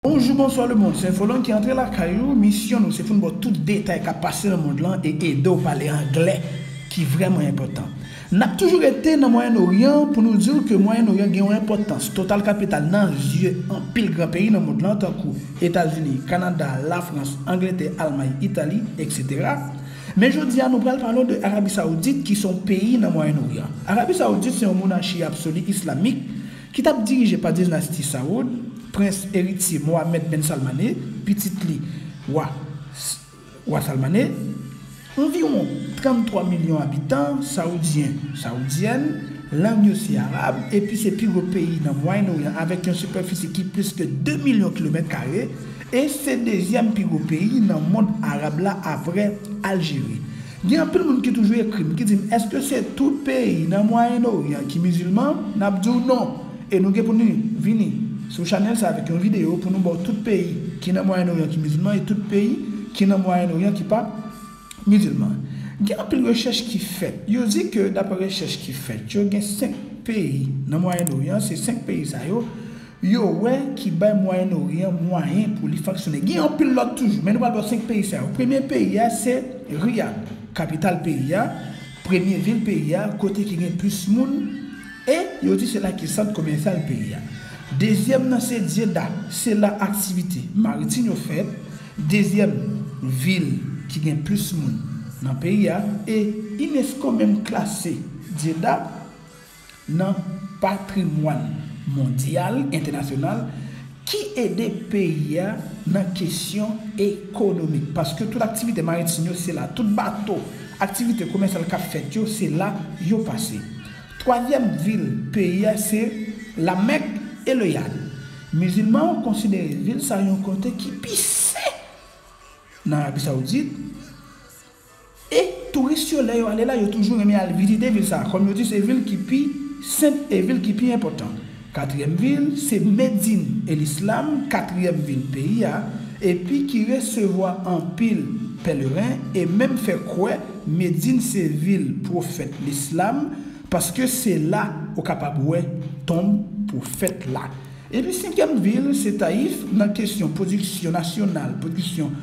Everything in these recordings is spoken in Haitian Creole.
Bonjou bonswa le mond se Infoland ki antre lakay ou misyon nou se foun baw tout detay kap pase nan mond lan e edew pale anglè ki vrèman enpòtan nap toujou rete nan mwayenn oryan pou nou diw ke mwayenn oryan gen yon enpòtans total kapital nan zye anpil gran peyi nan mond lan tankou etazini kanada lafrans angletè almay itali etc men jodia nou pral pale w de arabi saoudit ki son peyi nan mwayenn oryan arabi saoudit se yon monachi absoli islamik ki t ap dirije pa dinasti Sawoud, prens eritye Mohammed ben Salman I, pitit li wa wa Salman I, Anviwon 33 milyon abitan Sawoudyen, Sawoudyen, lang yo se Arab, epi se pi gwo peyi nan Mwayen Oryan avèk yon sipèfisi ki plis ke 2 milyon kilomèt kare, e se dezyèm pi gwo peyi nan mond Arab la apre Aljeri. Gen anpil moun ki toujou ekri m ki di m èske se tout peyi nan mwayen oryan ki mizilman, n ap di w non e nou gen pou nou vini sou chanèl sa avèk yon videyo pou nou ba w tout peyi ki nan mwayen oryan ki mizilman e tout peyi ki nan mwayen oryan ki pa mizilman gen anpil rechèch ki fèt yo di ke daprè rechèch ki fèt yo gen 5 peyi nan mwayen oryan se 5 peyi sa yo yo wè ki bay Mwayen Oryan mwayen pou li fonksyone. Gen anpil lòt toujou, men nou pral wè 5 peyi sa yo. Premye peyi a se Riyad, kapital peyi a, premye vil peyi a, kote ki gen plis moun, e yo di se la ki sant komèsyal peyi a. Dezyèm nan se Dyeda, se la aktivite maritim yo fèt, dezyèm vil ki gen plis moun nan peyi a, e unesco menm klase Dyeda nan patrimwàn mondyal, entènasyonal, ki ede peyi a nan kesyon ekonomik, paske tout aktivite maritim yo se la, tout bato, aktivite komèsyal k ap fèt yo, se la yo pase. Twazyèm vil peyi a se La Mèk e Le Yad. Mizilman yo konsidere vil sa yon kote ki pi sen nan Arabi Sawoudit, E touris yo lè yo ale la yo toujou renmen al vizite vil sa kòm yo di se vil ki pi senp e vil ki pi enpòtan. Katriyèm vil se Medin el Islam katriyèm vil peyi a epi ki resevwa anpil pèleren e menm fè kwè Medin se vil pwofèt Lislam paske se la ou kapab wè tonb pwofèt la. Epi senkyèm vil se Tayif nan kesyon pwodiksyon nasyonal pwodiksyon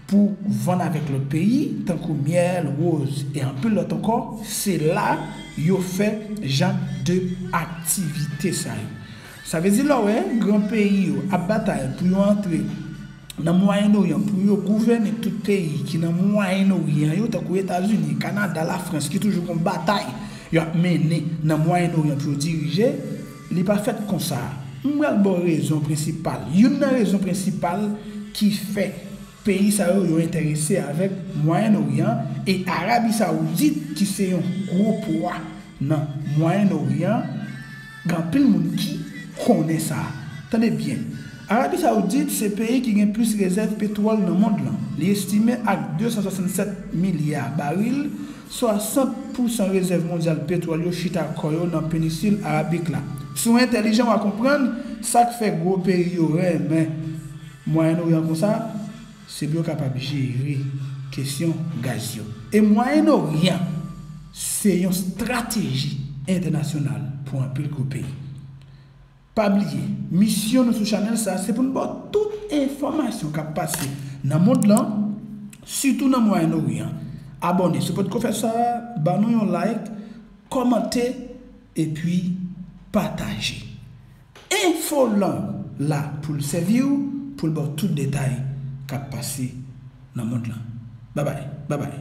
pou vann avèk lòt peyi, tankou myèl, woz e anpil lòt ankò, se la yo fè jan de aktivite sa yo. Sa vle di lè w wè gran peyi yo ap batay pou yo antre nan Mwayen Oryan pou yo gouvène tout peyi ki nan Mwayen Oryan yo, tankou Etazini, Kanada, Lafrans ki toujou gon batay y ap mennen nan Mwayen Oryan pou yo dirije, Li pa fèt konsa. M pral ba w rezon prensipal, youn nan rezon prensipal ki fè peyi sa yo yo enterese avèk Mwayen Oryan e Arabi Sawoudit ki se yon gwo pwa nan Mwayen Oryan, gen anpil moun ki konnen sa. Tande byen, Arabi Sawoudit se peyi ki gen plis rezèv petwòl nan mond lan. Li estime ak 267 milya baril 60 pousan rezèv mondyal petwòl yo chita kò yo nan penisil Arabik la. Si w entèlijan wa konprann sa k fè gwo peyi yo renmen Mwayen Oryan konsa, se pou yo kapab jere kesyon gaz yo. E Mwayen Oryan se yon strateji entènasyonal pou anpil gwo peyi. Pa bliye, misyon nou sou chanèl sa se pou n ba w tout enfòmasyon k ap pase nan mond lan, sitou nan Mwayen Oryan. Abòne si w potko fè sa, ba nou yon like, kòmante epi pataje. Infoland la pou l sèvi w, pou l ba w tout detay k ap pase nan mond lan. Babay! Babay!